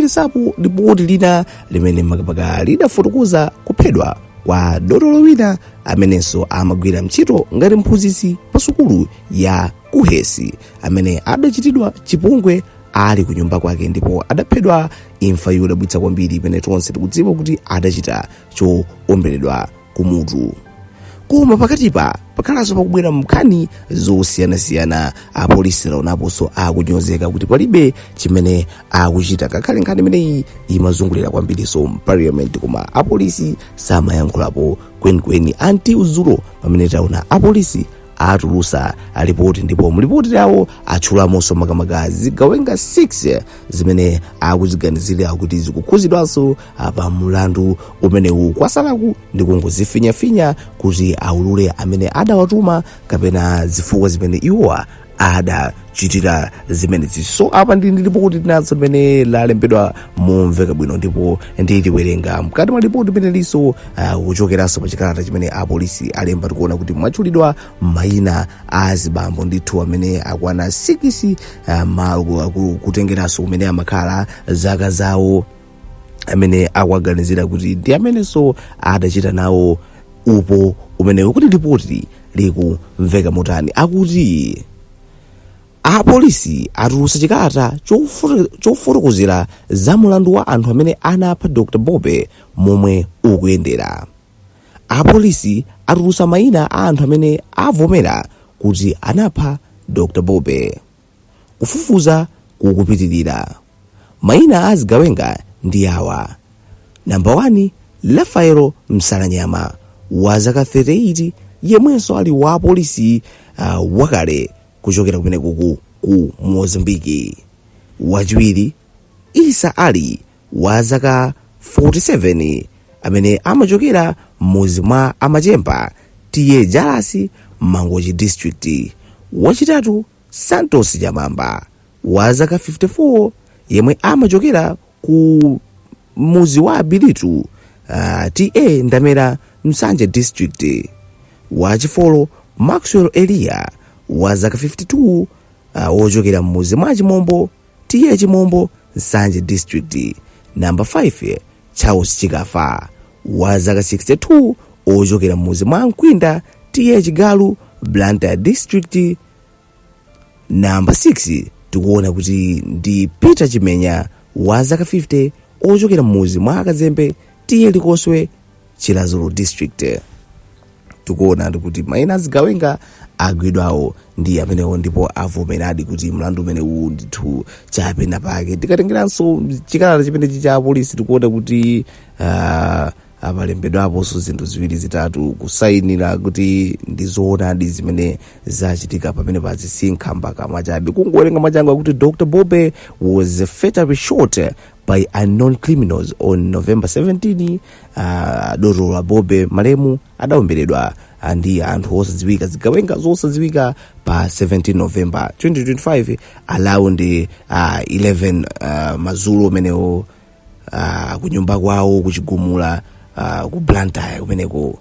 kuphatikizapo lipoti lina limene makamaka lidafotokoza kuphedwa kwa dotolo wina amenenso amagwira ntchito ngati mphunzitsi pa sukulu ya kuhesi amene adachitidwa chipongwe ali ku nyumba kwake ndipo adaphedwa imfa yodabwitsa kwambiri imene tonse tikudziwa kuti adachita choomberedwa kumutu koma pakatipa pakhalanso pakubwera mnkhani zosiyanasiyana apolisi tawaonaponso akunyozeka kuti palibe chimene akuchita ngakhale nkhani imeneyi imazungulira kwambirinso mparliament koma apolisi samayankhulapo kwenikweni until dzulo pamene taona apolisi atulusa lipoti ndipo mlipoti lawo atchulamonso makamaka zigawenga 6 zimene akuziganizira kuti zikukhuzidwanso pa mulandu umenewu kwasalaku ndi kungozifinyafinya kuti aulule amene adawatuma kapena zifukwa zimene iwowa adachitira zimenezi so apa ndi ndi lipoti linanso limene lalembedwa momveka bwino ndipo ndiliwerenga mkati mwa lipoti limenelinso kuchokeranso pa chikalata chimene apolisi alemba tikuona kuti mwatchulidwa mayina a zibambo ndithu amene akwana 6 kutengeranso kumene amakhala zaka zawo amene akuwaganizira kuti ndi amenenso adachita nawo upo umenewo kuti lipoti likumveka motani akuti apolisi atulutsa chikalata chofotokozera za mulandu wa anthu amene anapha dr bobe momwe ukuyendera apolisi atulutsa mayina a anthu amene avomera kuti anapha dr bobe Kufufuza kukupitirira. Maina a azigawenga ndi awa. Namba 1 Rafaelo Msalanyama wa zaka 38 yemwenso ali wapolisi wakale kuchokera kumeneko ku Mozambiki. Wachiwiri Issa Ali, wa zaka 47, amene amachokera m'mudzi mwa a Machemba, TA Jalasi, Mangochi District. Wachitatu, Santos Chamamba, wa zaka 54, yemwe amachokera ku mudzi wa Abilitu, ah, TA Ndamera, Nsanje District. Wachifolo, Maxwell Eliya, wa zaka 52, ah, wochokera m'mudzi mwa Chimombo, TA Chimombo, Nsanje District, number 5, Charles Chikafa, wa zaka 62, ochokera m'mudzi mwa Nkwinda, TA Chigalu, Blantyre District, namba 6 tikuona kuti ndi peter chimenya wa zaka 50 ochokera m'mudzi mwa akazembe TA Likoswe chiradzulu district tikuona kuti maina azigawenga agwidwawo ndi amenewo ndipo avomeradi kuti mlandu umenewu ndithu chapena pake tikatengeranso chikalata chimenechi cha polisi tikuona kuti uh, apalembedwaponso zinthu ziwiri zitatu kusayinira kuti ndi zoonadi zimene zachitika pamene pasakhale mpakamwa chabe kungowerenga mwachangu akuti dr bobe was fatally shot by unknown criminals on november 17 uh, dokotala bobe malemu adaomberedwa ah, ndi anthu osadziwika zigawenga zosadziwika pa 17 november 2025 around uh, 11 uh, madzulo amenewo uh, kunyumba kwawo ku chigumula uh, ku blantyre kumeneko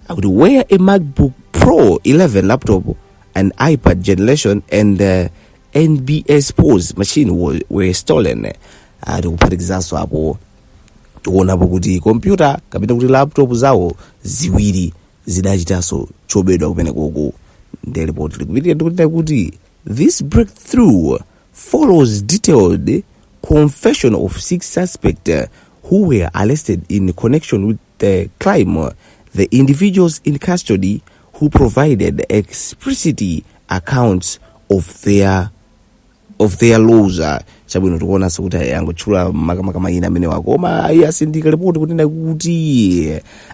akuti where a macbook pro 11 laptop an ipad generation and uh, nbs pos machine wa- were stolen Ah, kuphatikizaso apo tikuonapo kuti kompyuta kapena kuti laptop zawo ziwiri zidachitaso chobedwa kumeneko ndi report likupitirira ndikunena kuti this breakthrough follows detailed confession of six suspect uh, who were arrested in connection with the crime the individuals in custody who provided explicit accounts of their of their roles uh, chabwino tikuonanso kuti angotchula makamaka mayina amenewa koma atsindika lipoti kunena kuti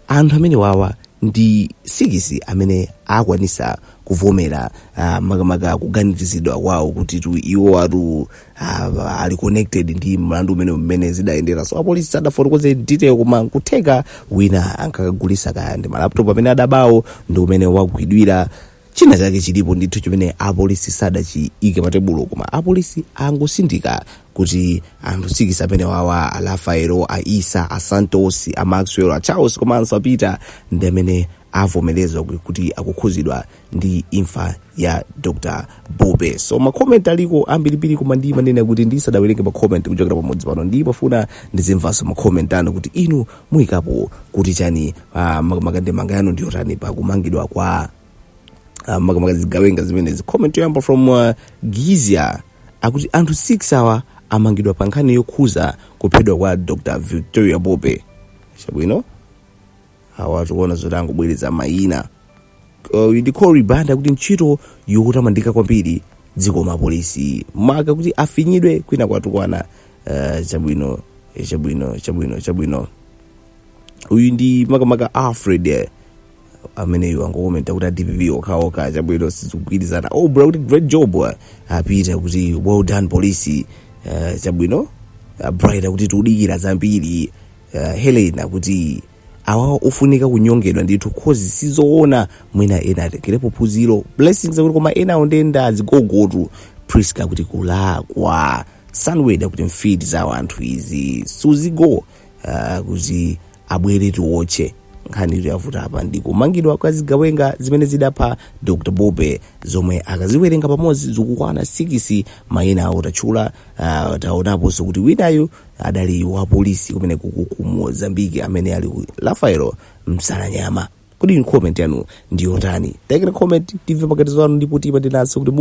anthu amenewawa ndi sikisi amene akwanitsa kuvomera uh, makamaka kuganiziridwa kwawo kuti tu iwo atu ah, ali connected ndi mlandu umene mmene zidayendera so apolisi sadafotokoze detail koma nkutheka wina ankakagulitsa kaya ndi malaptop amene adabawo ndi mmene wagwidwira china chake chilipo ndithu chimene apolisi sadachiike patebulo koma apolisi angotsindika kuti anthu sikisi amenewawa a rafaelo a isa a santos a maxwell a charles komanso a peter ndi amene avomerezwa kuti akukhudzidwa ndi imfa ya dr bobe so makomenti aliko ambirimbiri koma ndimanena kuti ndisadawerenge makomenti kuchokera pamodzi pano ndimafuna ndizimvanso makomenti anu kuti inu muyikapo kuti chani uh, maka ndemanga yanu ndiyotani pa kumangidwa kwa uh, makamaka zigawenga zimenezi comment yoyamba from uh, gizia akuti anthu 6 awa amangidwa pa nkhani yokhudza kuphedwa kwa dr victoria bobe chabwino awa tikuona zoti angobwereza mayina Uh, uyu ndi cory banda kuti ntchito yotamandika kwambiri zikomo apolisi maka kuti afinyidwe kwina kwatukwana uh, chabwino eh, chabwino chabwino chabwino uyu ndi makamaka alfred eh, ameneyu angokomenta kuti adpp okhaokha chabwino sizikugwirizana oh bro kuti great job ah. a peter akuti well done police uh, chabwino uh, bright akuti tiudikira zambiri uh, helen akuti awa ofunika kunyongedwa ndithu coz sizoona mwina ena atengerepo phunziro blessings akuti koma ena awo ndende azigogotu priska akuti kulakwa sunwed akuti mfiti za wanthu izi suzgo uh, akuti abwere tiwotche nkhani imene yavuta apa ndi kumangidwa kwa zigawenga zimene zidapha dr bobe zomwe akaziwerengera pamodzi zikukwana sikisi mayina awo tatchula uh, taonaponso kuti winayu adali wa polisi kumeneku ku mozambiki amene ali rafael msalanyama kodi inu comment yanu ndiyotani taikani comment timve pakatipa zanu ndipo tipatirenso kuti